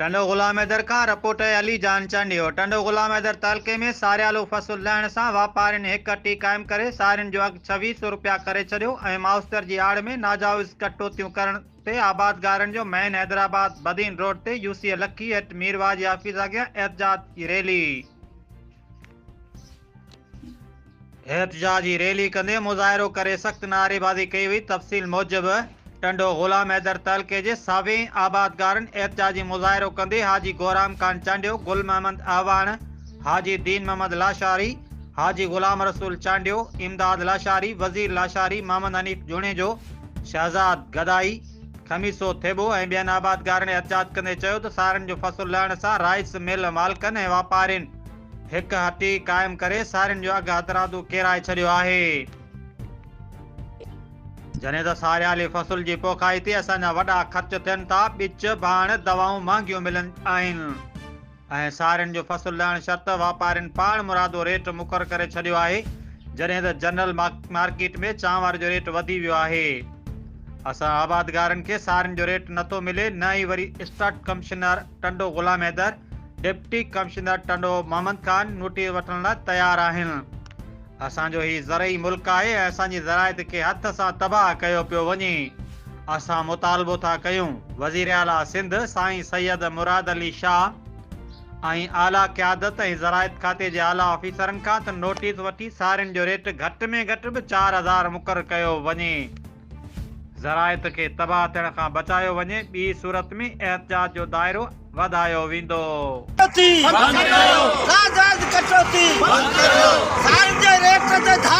ٽنڊو غلام حيدر کان رپورٽ اي علي جان چانڊيو ٽنڊو غلام حيدر تعلقي ۾ ساريالو فصل لهڻ سان واپارين هڪ اٽي قائم ڪري سارين جو اگهه ڇويهه سئو روپيا ڪري ڇڏيو ۽ ماوستر جي آڙ ۾ ناجائز ڪٽوتيون ڪرڻ تي آبادگارن جو مين حيدرآباد بدين روڊ تي يو سي اي لکي ايٽ مير واعظ جي آفيس اڳيان احتجاج جي ريلي. احتجاج جي ريلي ڪندي مظاهرو ڪري سخت نعريبازي ڪئي وئي تفصيل موجب ٽنڊو غلام حيدر تعلقي جي ساوين آبادگارن احتجاجي مظاهرو ڪندي حاجي گورام خان چانڊيو گل محمد اعواڻ حاجي دين محمد لاشاري حاجي غلام رسول چانڊيو امداد لاشاري وزير لاشاري محمد حنيف جوڻيجو شهزاد گدائي، خميسو ٿيٻو ۽ ٻين آبادگارن احتجاج ڪندي چيو ته سارين جو فصل لهڻ سان رائس مل مالڪن ۽ واپارين هڪ هٽي قائم ڪري سارين جو اگهه هٿرادو ڪيرائي ڇڏيو آهي، جڏهن ته ساريالي فصل جي پوکائي تي اسان جا وڏا خرچ ٿين ٿا، ٻچ، ڀاڻ، دوائون مهانگيون ملن آهن. ۽ سارين جو فصل لهڻ شرط واپارين پاڻ مرادو ريٽ مقرر ڪري ڇڏيو آهي جڏهن ته جنرل مارڪيٽ ۾ چانور جو ريٽ وڌي ويو آهي اسان آبادگارن کي سارين جو ريٽ نٿو ملي نه ئي وري اسٽاٽ commissioner Tando Ghulam Haider deputy commissioner Tando Muhammad Khan notice وٺڻ لاء تيار آهن اسان جو هي زرعي ملڪ آهي ۽ اسان جي زراعت کي هٿ سان تباهه ڪيو پيو وڃي، اسان مطالبو ٿا ڪيون وزير اعليٰ سنڌ سائين سيد مراد علي شاهه ۽ اعليٰ قيادت ۽ زراعت کاتي جي اعليٰ آفيسرن کان ته نوٽيس وٺي سارين جو ريٽ گهٽ ۾ گهٽ به چار هزار مقرر ڪيو وڃي. زراعت کي تباهه ٿيڻ کان بچايو وڃي ٻي صورت ۾ احتجاج جو دائرو وڌايو ويندو. ڪٽوتي بند ڪريو. ڪاغذ ڪٽوتي بند ڪريو. سائين جي ريٽ تي ڌاڙ.